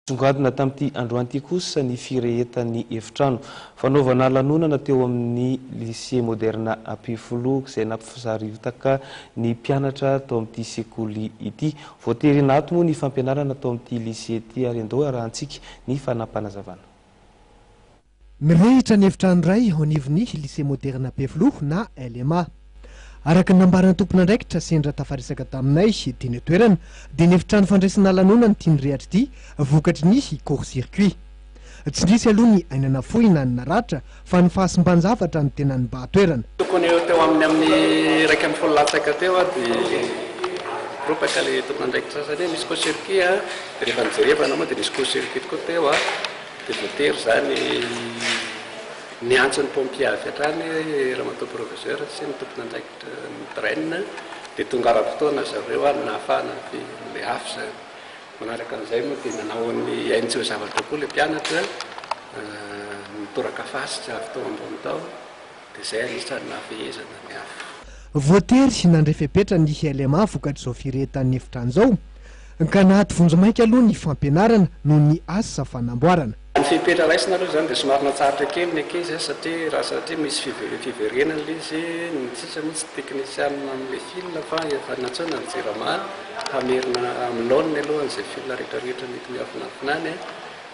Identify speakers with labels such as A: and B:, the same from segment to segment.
A: Nisongadina tamin'ity androany ity kosa ny firehetan'ny efitrano fanaovana lanonana teo amin'ny Lycée Moderne Ampefiloha izay nampisariotaka ny mpianatra tao amin'ity sekoly ity. Voatery naty moa ny fampianarana tao amin'ity Lycée ity ary andao arahantsika ny fanapanazavana.
B: Mirehitra ny efitrano iray ao anivon'ny Lycée Moderna Befiloha na LMA. Araka ny nambaran'ny tompon'andraikitra sendra tafaresaka taminay teny an-toerana dia ny efitrano fandraisana lanonana ity nirehatra ity vokatry ny court circuit. Tsy nisy aloha ny aina nafoy na ny naratra fa ny fahasimban-javatra no tena nibahan-toerana. Tokony ho teo amin'ny
C: amin'ny iraika ambin'ny folo latsaka teo dia ropaka ilay tompon'andraikitra sasany hoe misy court circuit an, dia rehefa nijerevana moa dia nisy court circuit tokoa teo an. Dia voatery izany niantso ny pompier avy hatrany ramatoa proviseur sy ny tompon'andraikitry ny drain dia tonga ara-potoana zareo ary nahafahana avy ilay afo izany. Manaraka an'izay moa dia nanao ny ainy tsy ho zavatra koa ilay mpianatra, nitoraka fasika avy tao ambony tao, dia izay anisan'ny nahafehezana ny afo. Voatery
B: nandray fepetra ny LMA vokatr'izao firehetan'ny efitra an'izao. Ka na ato vonjimaika aloha ny fampianarana noho ny asa fanamboarana. Ny fepetra raisina
C: aloha izany dia somary natsahatra kely ny ankizy an, satria raha satria misy five- fiverenana ilay izy, ny sisa moa tsy teknisianina amin'ilay fil fa efa nantsoina ny jirama hamerina amin'ny laoniny aloha an'izay fil rehetrarehetra mety miafinafina any an.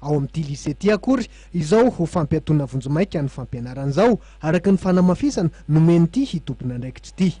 B: Ao amin'ity lycée ity akory izao ho fampiatoana vonjimaika ny fampianarana izao, araka ny fanamafisana nomen'ity tompon'andraikitra ity.